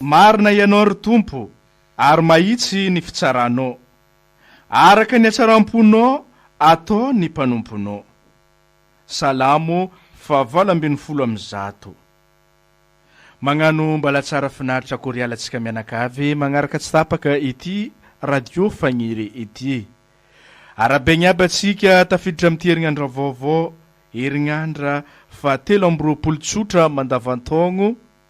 Marina Ianao ry Tompo ary mahitsy ny fitsaranao. Araka ny hatsaram-ponao atao ny mpanomponao. Salamo fahavalo ambin'ny folo amby zato. Magnano mbalatsara finaritra koriala tsika mianakavy magnaraka tsy tapaka ity radio fagniry ity. Arabegny aby atsika tafiditra amty herinandra vaovao herinandra faha telo amby roapolo tsotra mandavantaogno.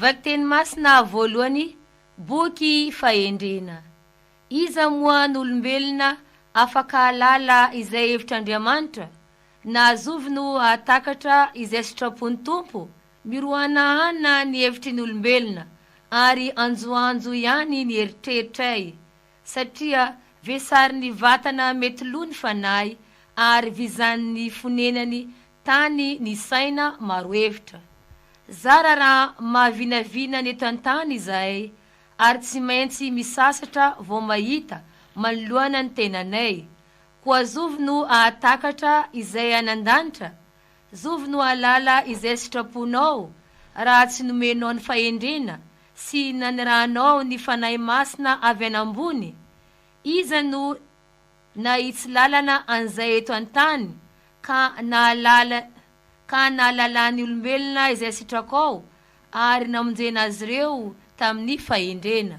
Vakiteny masina voalohany, boky fahendrena. Iza moa no olombelona afaka hahalala izay hevitr'Andriamanitra? Na azovy no hahatakatra izay sitrapon'ny Tompo? Mirohanahana ny hevitry ny olombelona, ary anjoanjo ihany ny eritreritray. Satria vesarin'ny vatana mety lo ny fanahy ary vizan'ny fonenany tany ny saina maro hevitra. Zara raha mahavinavina ny eto an-tany izahay ary tsy maintsy misasatra vao mahita manoloana ny tenanay. Koa zovy no hahatakatra izay any an-danitra? Zovy no hahalala izay sitraponao raha tsy nomenao ny fahendrena Tsy nanirahanao ny Fanahy Masina avy any ambony? Iza no nahitsy lalana an'izay eto an-tany ka nahalala ka nahalalan'ny olombelona izay sitrakao ary namonjena azy ireo tamin'ny fahendrena?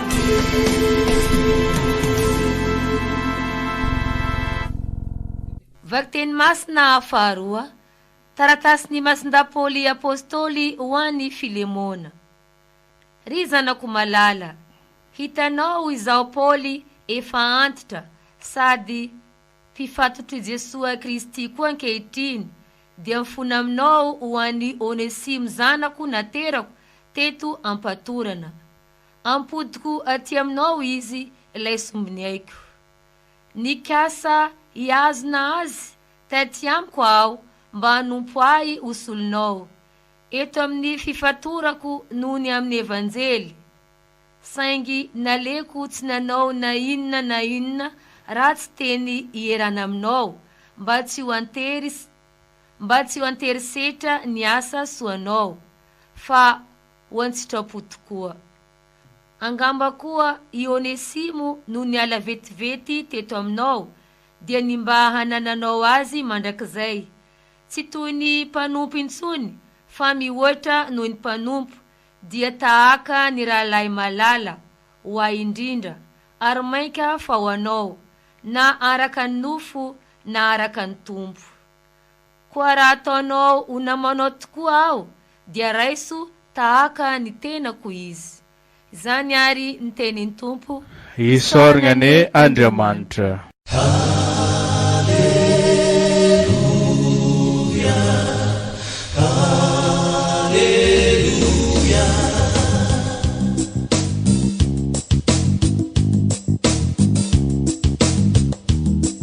Vakiteny masina faharoa, Taratasin'i Masindahy Paoly Apostoly ho an'i Filemona. Ry zanako malala, hitanao izaho Paoly efa antitra sady mpifatotr'i Jesoa Kristy koa ankehitriny, dia mifona aminao ho an'i Onesimo zanako naterako teto am-patorana. Ampodiko aty aminao ao izy ilay sombiny aiko. Nikasa hihazona azy taty amiko aho mba hanompo ahy ho solonao, eto amin'ny fifatorako noho ny amin'ny Evanjely. Saingy naleoko tsy nanao na inona na inona ratsy teny ierana aminao mba tsy ho antery mba tsy ho antery setra ny asa soanao, fa ho an-tsitrapo tokoa. Angamba koa i Onesimo no niala vetivety teto aminao dia ny mba hanananao azy mandrakizay, tsy toy ny mpanompo intsony fa mihoatra noho ny mpanompo, dia tahaka ny rahalahy malala ho ahy indrindra, ary mainka fa ho anao, na araka ny nofo na araka ny Tompo. Koa raha ataonao ho namanao tokoa aho, dia raiso tahaka ny tenako izy. Izany àry ny tenin'ny Tompo. Isaorana anie Andriamanitra.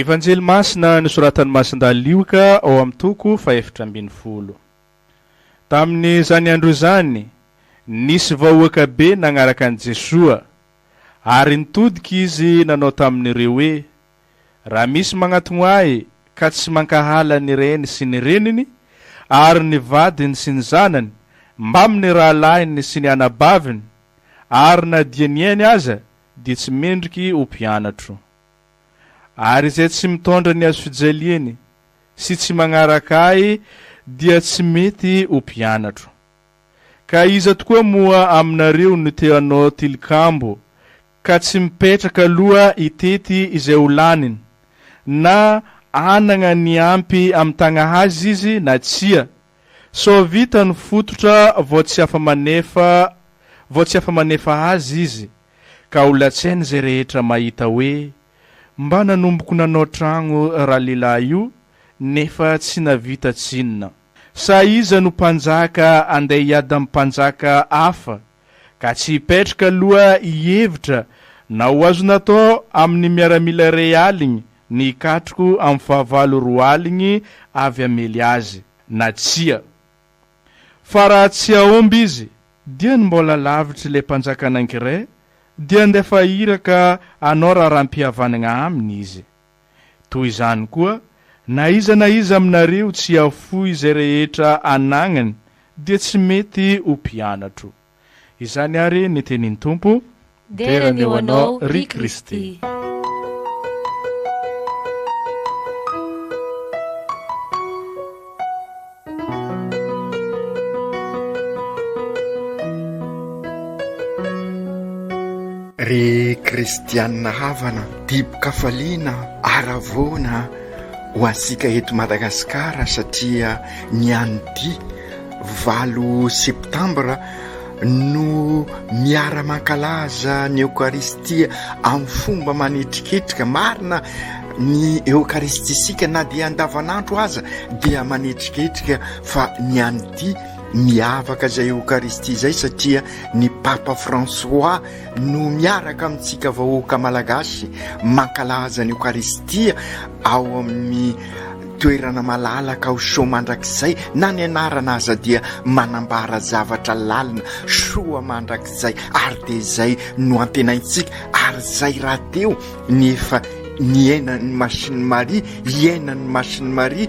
Evanjely Masina nosoratan'i Masindahy Lioka ao amin'ny toko fahefatra ambin'ny folo. Tamin'izany andro izany, nisy vahoaka be nanaraka an'i Jesoa, ary nitodika izy nanao tamin'ireo hoe, Raha misy magnatogno ahy ka tsy mankahala ny reny sy ny reniny, ary ny vadiny sy ny zanany, mbamin'ny rahalahiny sy ny anabaviny, ary na dia ny ainy aza, dia tsy mendriky ho mpianatro. Ary izay tsy mitondra ny hazofijaliany sy tsy magnaraka ahy dia tsy mety ho mpianatro. Ka iza tokoa moa aminareo no te hanao tilikambo ka tsy mipetraka aloha hitety izay ho laniny, na hanagna ny ampy amitagna azy izy na tsia, sao vita ny fototra vao tsy afa-manefa vao tsy afa-manefa azy izy, ka ho latsain' izay rehetra mahita hoe, Mba nanomboko nanao tragno ralehilay io nefa tsy navita tsinona. Sa iza no mpanjaka andeha hiady am-panjaka hafa? ka tsy hipetrka aloha hihevitra na ho azo natao amin'ny miaramila iray aligny ny hikatrko amin'ny fahavalo roa aligny avy hamely azy na tsia. Fa raha tsy hahomby izy dia ny mbola lavitr'i le mpanjaka Ningre dia andefa iraka hanao raharaham-pihavanagna aminy izy. Toy izany koa, na iza na iza aminareo tsy hahafoy izay rehetra anagnany dia tsy mety ho mpianatro. Izany àry ny tenin'ny Tompo, Dera ny ho anao, ry Kristy. Ry kristianina havana, dibo-kafaliana haravoana ho antsika eto Madagasikara satria ny an'ity valo septambra no miara-mankalaza ny Eokaristia amin'ny fomba manetriketrika. Marina, ny Eokaristisika na dia andavanandro aza dia manetriketrika fa ny an'ity miavaka izay Eokaristia izay satria ny Papa François no miaraka amintsika vahoaka malagasy mankalaza ny Eokaristia ao amin'ny Toerana malalaka ao Soa mandrakizay na ny anarana aza dia manambara zavatra lalina, Soa mandrakizay, ary dia izay no antenaintsika ary izay rahateo ny efa niainan'i Masini Maria, iainan'i Masini Maria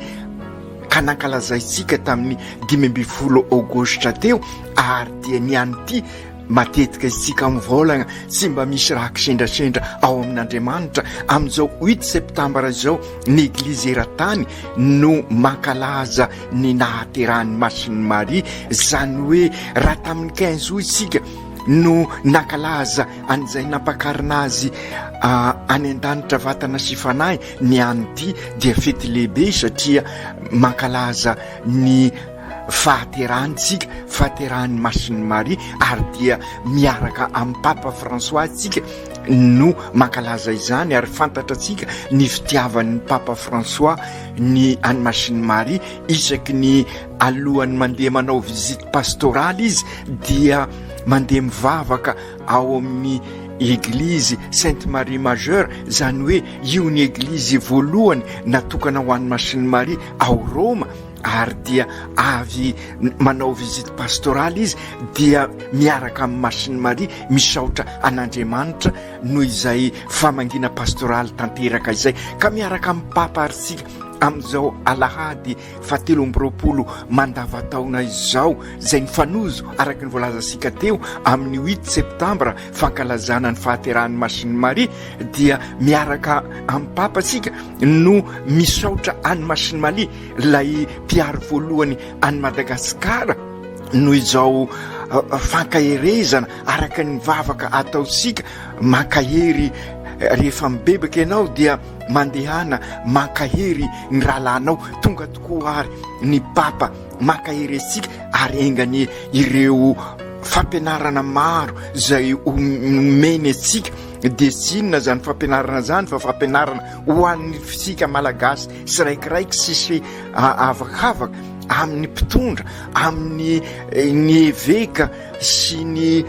ka nankalazaintsika tamin'ny dimy ambin'ny folo aogositra teo ary dia ny an'ity Matetika isika mivaolagna tsy mba misy raha kisendrasendra ao amin'Andriamanitra. Amin'izao huit septambra izao ny Eglizy eran-tany no mankalaza ny nahaterahan'i Masin'i Maria. Izany hoe raha tamin'ny quinze aout isika no nankalaza an'izay nampakarina azy any an-danitra vatana sy fanahy ny an'ity dia fety lehibe satria mankalaza ny fahaterahantsika, fahaterahan'ny Masin'i Maria ary dia miaraka amin'i Papa François isika no mankalaza izany ary fantatra antsika ny fitiavan'ny Papa François ny an'i Masin'i Maria isaky ny alohan'ny mandeha manao visite pastorale izy dia mandeha mivavaka ao amin'ny eglizy Sainte Marie Majeure izany hoe io ny eglizy voalohany natokana ho an'i Masin'i Maria ao Roma ary dia avy manao visite pastorale izy dia miaraka amin'ny Masiny Maria misaotra an'Andriamanitra noho izay famangiana pastoraly tanteraka izay ka miaraka amin'ny Papa ary isika amin'izao alahady fahatelo amby roapolo mandavataona izao izay mifanojo araka ny voalazantsika teo amin'ny huit septambra fankalazana ny fahaterahan'ny Masiny Maria dia miaraka amin'ny Papa isika no misaotra an'i Masiny Maria Ilay mpiaro voalohany an'i Madagasikara noho izao fankaherezana araka ny vavaka ataontsika, mankahery rehefa mibebaka ianao dia mandehana mankahery ny rahalahinao, tonga tokoa ary ny Papa mankahery antsika ary enga anie ireo fampianarana maro izay omeny antsika dia tsy inona izany fampianarana izany fa fampianarana ho antsika Malagasy tsiraikiraiky sisy avakavaka amin'ny mpitondra amin'ny eh, ny eveka sy ny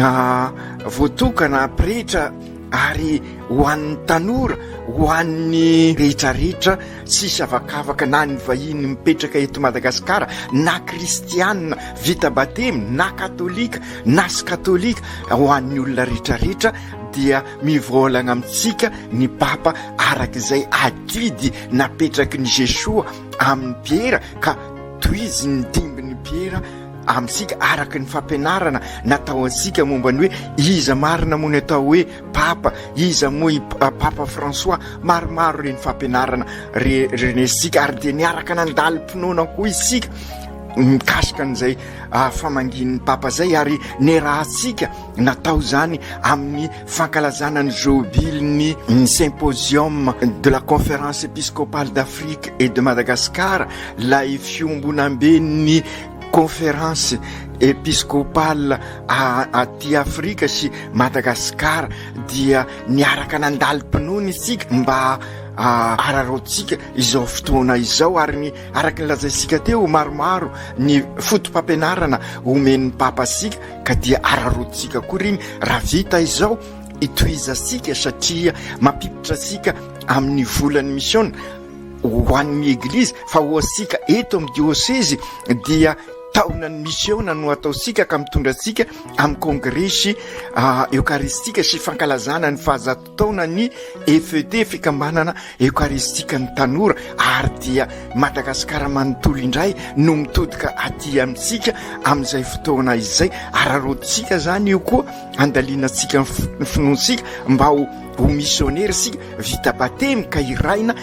ah, voatokana pretra ary ho an'ny tanora ho an'ny rehetrarehetra tsisy avakavaka na ny vahiny mipetraka eto madagasikara na kristianina vita batemy na katolika na sy katolika ho an'ny olona rehetrarehetra dia Mivolagna amintsika ny Papa araka izay adidy napetraky ny Jesoa amin'i Piera ka tohizin'ny dimbin'i Piera amintsika araka ny fampianarana natao antsika momba ny hoe iza marina moa ny atao hoe Papa, iza moa i Papa François, maromaro ireny fampianarana renesintsika ary dia niaraka nandalim-pinoana koa isika mikasika an'izay famangian'ny Papa izay ary niarahantsika Natao izany amin'ny fankalazana ny Jobilin'ny Symposium de la Conférence Episcopale d'Afrique et de Madagascar, ilay fiombonamben'ny Conférence Episcopale aty Afrika sy Madagasikara, dia niaraka nandalim-pinoana isika mba araraotsika izao fotoana izao ary ny araka ny lazaintsika teo maromaro ny foto-pampianarana omen'ny Papa antsika ka dia araraotintsika koa ireny raha vita izao hitohizantsika satria mampiditra antsika amin'ny volan'ny misiona ho an'ny eglizy fa ho antsika eto amin'ny diosezy dia taonan'ny misiona no ataontsika ka mitondra antsika amin'ny kongresy ah, eokaristika sy fankalazana ny fahazat taona ny FET, fikambanana eokaristikan'ny tanora, ary dia Madagasikara manontolo indray no mitodika aty amintsika amin'izay fotoana izay. Araraotintsika izany io koa, andalianantsika ny finoantsika mba ho ho misionera isika, vita batemy ka hiraina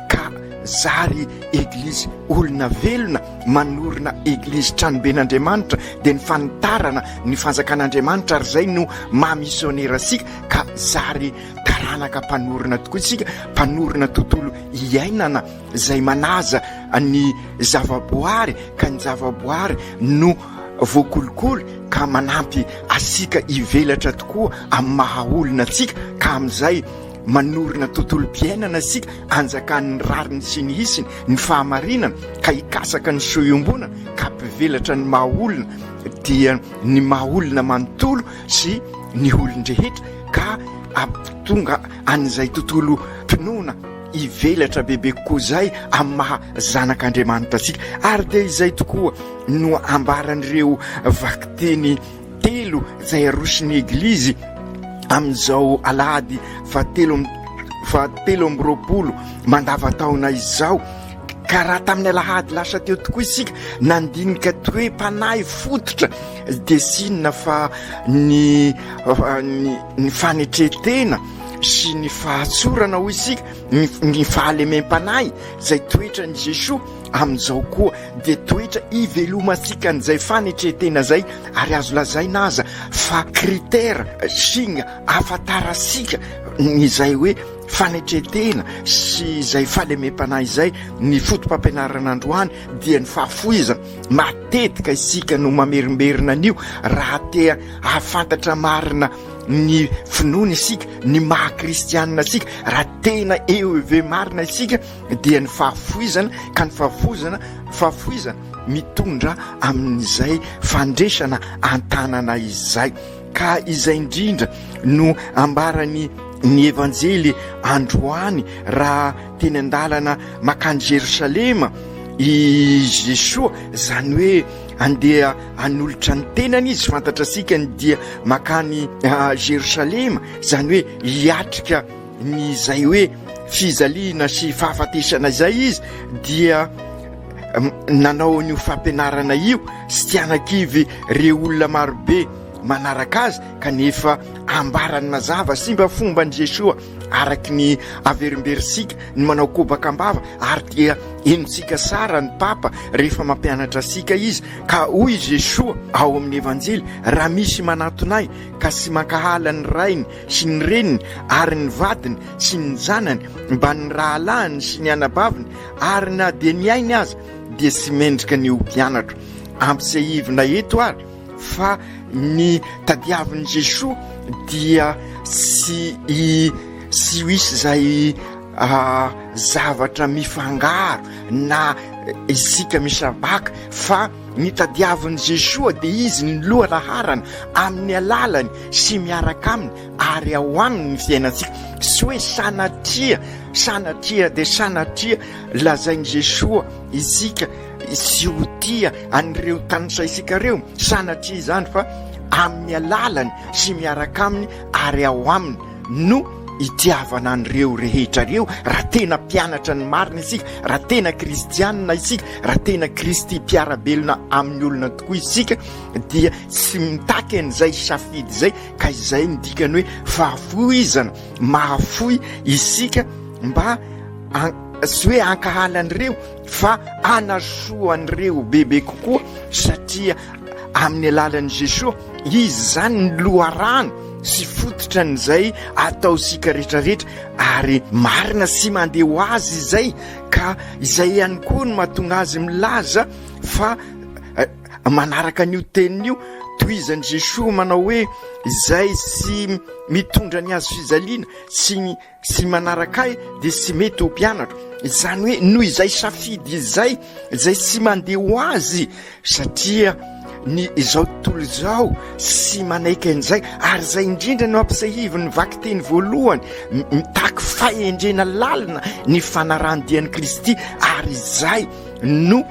ka zary eglizy olona velona, manorina eglizy tranoben'Andriamanitra, dia ny fanitarana ny fanjakan'Andriamanitra ary izay no maha misionera antsika. ka zary taranaka mpanorina tokoa isika, mpanorina tontolo iainana izay manaja ny zavaboary ka ny zavaboary no voakolokolo ka manampy asika hivelatra tokoa amin'ny maha olona atsika ka amin'izay manorina tontolom-piainana isika anjakan'ny rariny sy ny hisiny ny fahamarinana ka hikasaka ny sohiombonana ka mpivelatra ny maha olona dia ny maha olona manontolo sy ny olon-drehetra ka hampitonga an'izay tontolo finoana hivelatra bebe kokoa izay amin'ny maha zanak'Andriamanitra antsika. Ary dia izay tokoa no ambaran'ireo vakiteny telo izay aroson'ny Eglizy amin'izao alahady fahatelo fahatelo amby roapolo mandavantaona izao, Ka raha tamin'ny alahady lasa teo tokoa isika nandinika toe-panahy fototra dia sinona fa ny ny fanetren-tena sy ny fahatsorana hoy isika ny fahalemem-panahy izay toetran'i Jesoa amin'izao koa dia toetra ivelomantsika an'izay fanetren-tena izay ary azo lazaina aza fa critère, signe, ahafantarantsika izay hoe. fanetren-tena sy izay fahalemem-panahy izay, ny fotopampianarana androany dia ny fahafoizana, matetika isika no mamerimberina an'io raha te hahafantatra marina ny finoana isika, ny maha kristianina isika, raha tena eo ive marina isika dia ny fahafoizana, ka ny fahafoizana fahafoizana mitondra amin'izay fandresana an-tanana izay. Ka izay indrindra no ambaran'ny ny Evanjely androany raha teny an-dalana makany Jerosalema i Jesoa, izany hoe andeha hanolotra ny tenany izy, fantatra antsika ny dia makany Jerosalema, izany hoe hiatrika ny izay hoe fijaliana sy fahafatesana izay izy dia nanao an'io fampianarana io sy tsy hanakivy re olona marobe manaraka azy kanefa ambarany mazava sy mba fomba an'i Jesoa araky ny averimberintsika ny manao kobaka ambava ary dia henontsika sara ny papa rehefa mampianatra sika izy ka hoy Jesoa ao amin'ny evanjely raha misy manatonay ka sy mankahala ny rainy sy ny reniny ary ny vadiny sy ny zanany mba ny rahalahiny sy ny anabaviny ary na dia ny ainy aza dia tsy mendrika ny ho mpianatro. Ampisehoivina eto ary fa ny tadiavin'i Jesoa dia tsy i tsy ho isy izay ah, zavatra mifangaro na isika misabaka fa ny tadiavin'i Jesoa dia izy ny loha laharana amin'ny alalany sy miaraka aminy ary ao aminy ny fiainantsika, tsy hoe sanatria, sanatria dia sanatria lazain'i Jesoa isika tsy ho tia an'ireo tanisaintsika ireo, sanatria izany fa amin'ny alalany sy miaraka aminy ary ao aminy no itiavana an'ireo rehetra ireo, raha tena mpianatra ny marina isika, raha tena kristianina isika, raha tena kristy mpiara-belona amin'ny olona tokoa isika dia tsy mitaky an'izay safidy izay, ka izay no dikany hoe fahafoizana, mahafoy isika mba tsy hoe hankahala an'ireo fa hanasoa an'ireo bebe kokoa satria amin'ny alalan'i Jesoa izy izany ny loharano sy fototra an'izay ataontsika rehetra rehetra ary marina sy mandeha ho azy izay ka izay ihany koa no mahatonga azy milaza fa Manaraka an'io teniny io, tohizan'i Jesoa manao hoe, Izay tsy mitondra ny hazo fijaliana sy tsy manaraka Ahy dia tsy mety ho mpianatro. Izany hoe noho izay safidy izay, izay tsy mandeha ho Azy satria ny izao tontolo izao tsy manaiky an'izay. Ary izay indrindra no ampisahivin'ny vakiteny voalohany, mitaky fahendrena lalina ny fanarahan-dian'i Kristy ary izay no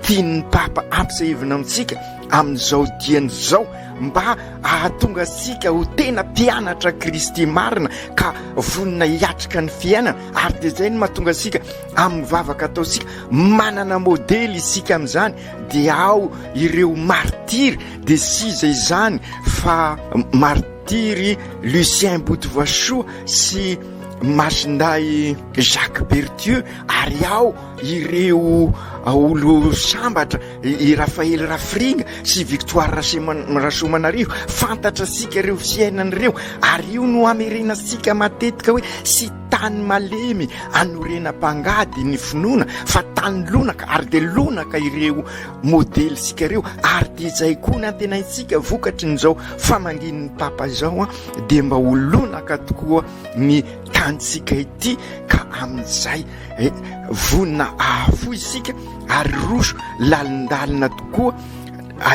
tian'ny Papa ampisehoana amintsika amin'izao diany izao mba hahatonga antsika ho tena mpianatra Kristy marina ka vonona hiatrika ny fiainana ary dia izay no mahatonga antsika amin'ny vavaka ataontsika manana modely isika amin'izany dia ao ireo martiry dia siza izany fa martiry Lucien Botovoasoa sy Masindahy Jacques Berthieu ary ao Ireo olo-sambatra, i Raphaël Rafiringa sy Victoire Rasoamanarivo, fantatr'antsika ireo fiainana ireo ary io no hamerenantsika matetika hoe tsy tany malemy hanorenam-pangady ny finoana fa tany lonaka ary dia lonaka ireo modelintsika ireo ary dia izay koa ny antenaintsika vokatry ny izao famangian'ny Papa izao dia mba ho lonaka tokoa ny tanintsika ity ka amin'izay Eh, vonona ahafoy isika ary roso lalindalina tokoa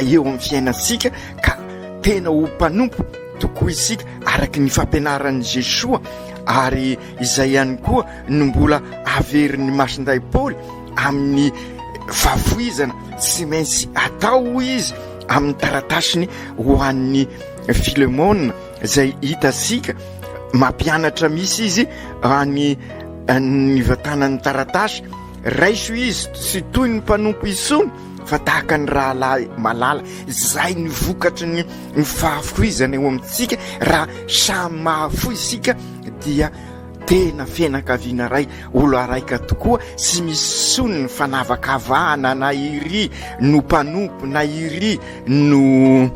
eo amin'ny fiainantsika ka tena ho mpanompo tokoa isika araka ny fampianaran'i Jesoa ary izay ihany koa no mbola averin'ny masindahy Paoly amin'ny fahafoizana tsy maintsy atao hoy izy amin'ny taratasiny ho an'ny Filemona izay hitasika mampianatra misy izy any ny vatanan'ny taratasy raiso izy sy toy ny mpanompo isony fa tahaka ny rahalahy malala izay ny vokatry ny ny fahafoizana eo amintsika raha samy mahafo isika dia tena fianakaviana ray olo araika tokoa sy misony ny fanavakavahana na iry no mpanompo na iry no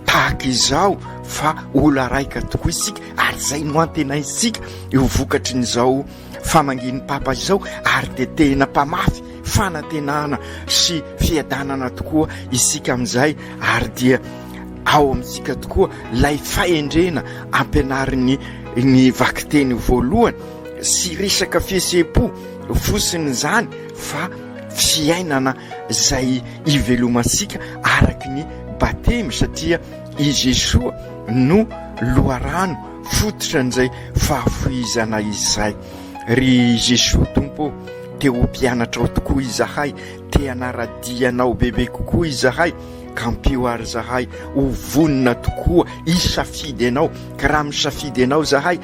tahaka izao fa ola raika tokoa isika ary izay no antenaintsika eo vokatry ny izao famangian'ny papa izao ary dia tena mpamafy fanantenana sy fiadanana tokoa isika amin'izay ary dia ao amintsika tokoa lay fahendrena ampianarin'ny ny vakiteny voalohany sy resaka fihesem-po fosiny izany fa fiainana izay ivelomantsika araky ny batemy satria i Jesoa no loharano fototra an'izay fahafohizana izay. Ry Jesoa Tompo ô, te ho mpianatrao tokoa izahay, te hanara-dia Anao bebe kokoa izahay, ka ampio àry izahay ho vonona tokoa hisafidy Anao, ka raha misafidy Anao izahay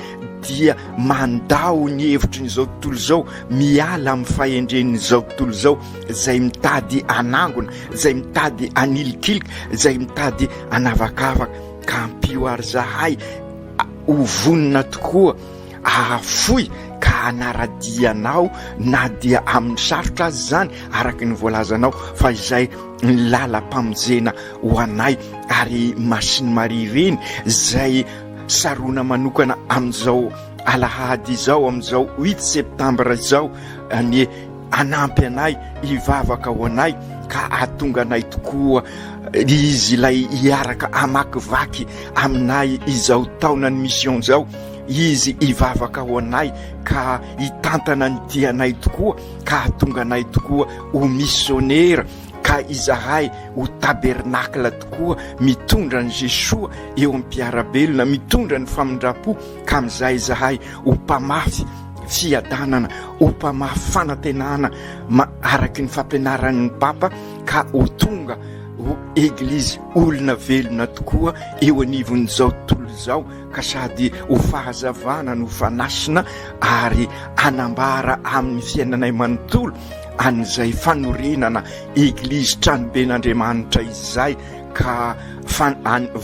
dia mandà ho ny hevitry ny izao tontolo izao, miala amin'ny fahendren'izao tontolo izao izay mitady hanangona, izay mitady hanilikilika, izay mitady hanavakavaka. Ka ampio ary izahay ho vonona tokoa hahafoy ka hanara-dia anao na dia amin'ny sarotra aza izany araka ny voalazanao fa izay ny lalam-pamonjena ho anay ary Masin'i Maria ireny izay sarona manokana amin'izao Alahady izao amin'izao huit septembre izao anie hanampy anay hivavaka ho anay ka hahatonga anay tokoa izy ilay hiaraka hamakivaky aminay izao taonan'ny mission izao izy hivavaka ho anay ka hitantana ny tianay tokoa ka hahatonga anay tokoa ho missionera ka izahay ho tabernacle tokoa mitondra an'i Jesoa eo am-piarabelona mitondra ny famindram-po ka amin'izay izahay ho mpamafy fiadanana, ho mpamafy fanantenana araka ny fampianaran'ny Papa ka ho tonga ho Eglizy olona velona tokoa eo anivon'izao tontolo izao ka sady ho fahazavana no fanasina ary hanambara amin'ny fiainanay manontolo an'izay fanorenana Eglizy tranoben'Andriamanitra izay ka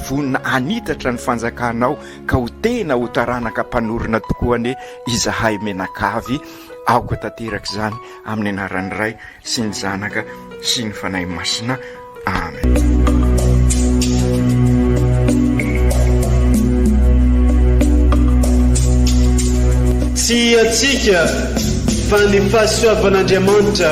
vonona hanitatra ny fanjakanao ka ho tena ho taranaka mpanorina tokoa anie izahay mianakavy, aoka tanteraka izany amin'ny anaran'ny Ray sy ny Zanaka sy ny Fanahy Masina. Amen. Tsy hiatsika fa ny fahasoavan'Andriamanitra.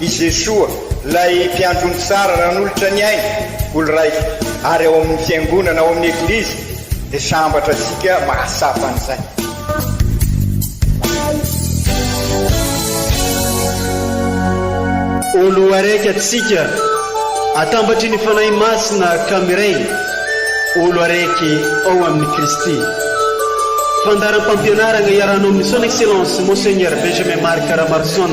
I Jesoa, ilay Mpiandry omby tsara nanolotra ny ainy ho lraiko ary ao amin'ny Fiangonana, ao amin'ny Eglizy, dia sambatra antsika mahatsapa an'izay. Ho loharaiky antsika atambatry ny Fanahy Masina ka miray ho loharaiky ao amin'i Kristy. Fandaharam-pampianaragna iarahanao amin'ny Son Excellence Monseigneur Benjamin Marc Ramarison.